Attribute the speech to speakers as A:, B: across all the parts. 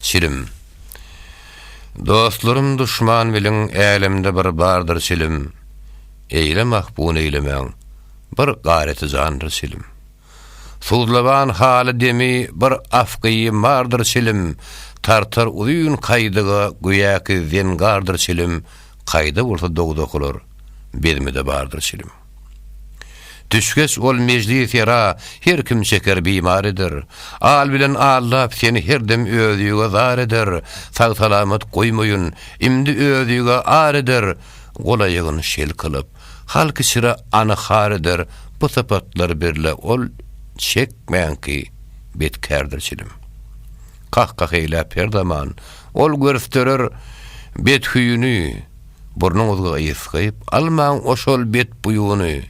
A: Çilim. Dostlarym duşman bilin Älemde bir bardyr çilim Eýle mahpun eýlemäň Bir gareti jandyr çilim Suzlaban haly demi Bir afgyýym bardyr çilim Tartar uzyn kaýdyga Göýäki zengardyr çilim Kaýda bolsa dogdakylar Bezmide bardyr çilim. Düşgeç ol mejlis ýera her kim şeker bimar eder. Al bilen Allap seni her dem özüge zar eder, sag-salamat goýmaýyn, imdi özüge ar eder, golaýygyn şel kylyp, halk içre any-har eder, bu sypatlar birle ol çekmänki betkärdir çilim. Kah-kah eýläp her zaman ol görsderer bet hüýüni. Burnuňyzga ys gyp almaň oşol bet buýuny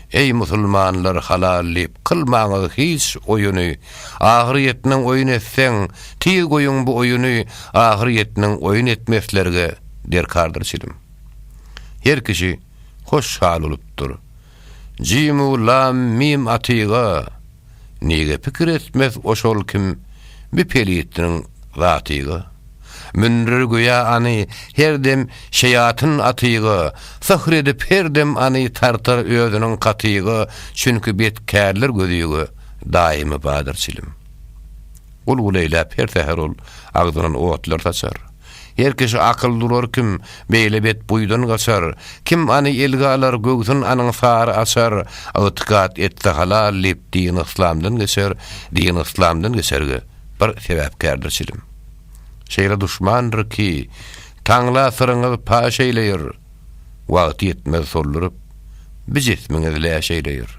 A: Eý musulmanlar halal diýip kylmaňyz hiç oýuny Ahyr ýetmeň oýun etseň tiz goýuň bu oýuny Ahyr ýetmeň oýun etmeslerge derkardyr çilim Her kişi hoş hal bolupdyr Jimu lam mim atyga Nige pikir etmez oşol kim bi pelitniň zatyga Mündir göýä any her dem şeýatyn atyga Syhr edip her dem any tartar özüniň katyga Çünki bet kärler gözüge daýymy badyr çilim Gul-gul eýläp her säher ol agzyndan otlar saçar. Her kişi akyl durar kim, beýle bet buýdan gaçar, Kim any elge alar, göwsün anyň sary açar, Ygtykat etse halal diýip dini yslamdan geçer, Dini yslamdan geçerge bir sebäpkärdir çilim. Şeýle duşmandyr ki, taňla syryňyz paş eýleýär, Wagty ýetmez solduryp, bi jismiňiz läş eýleýär.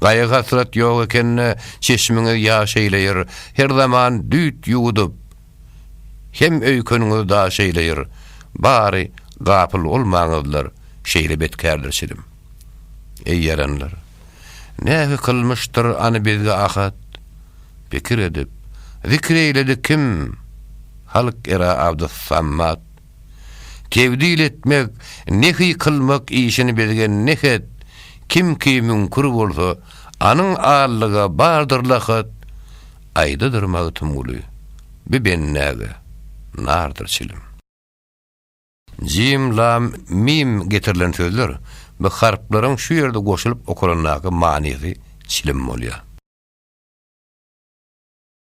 A: Gaýgy-hasrat ýok ekende, çeşmiňiz ýaş eýleýär, Her zaman düýt ýuwudyp, Hem öýkeniňiz daş eýleýir, bary gapyl bolmaňyzlar şeýle betkärdir çilim. Eý ýaranlar! Nähü kylmyşdyr any bizge ahat? Pikir edip, zikr eýledi kim? Halk era abdys sammat. Tebdil etmek, nehy kylmak işini bizge nehet, kim ki müňkür bolsa, anyň allyga bardyr lahat, Aýdadyr Magtymguly, bi bennäge, nardyr çilim. Jim, lam, mim getirilen sözler bi harplaryň şu ýerde goşulyp okalandaky manysy çilim bolýar.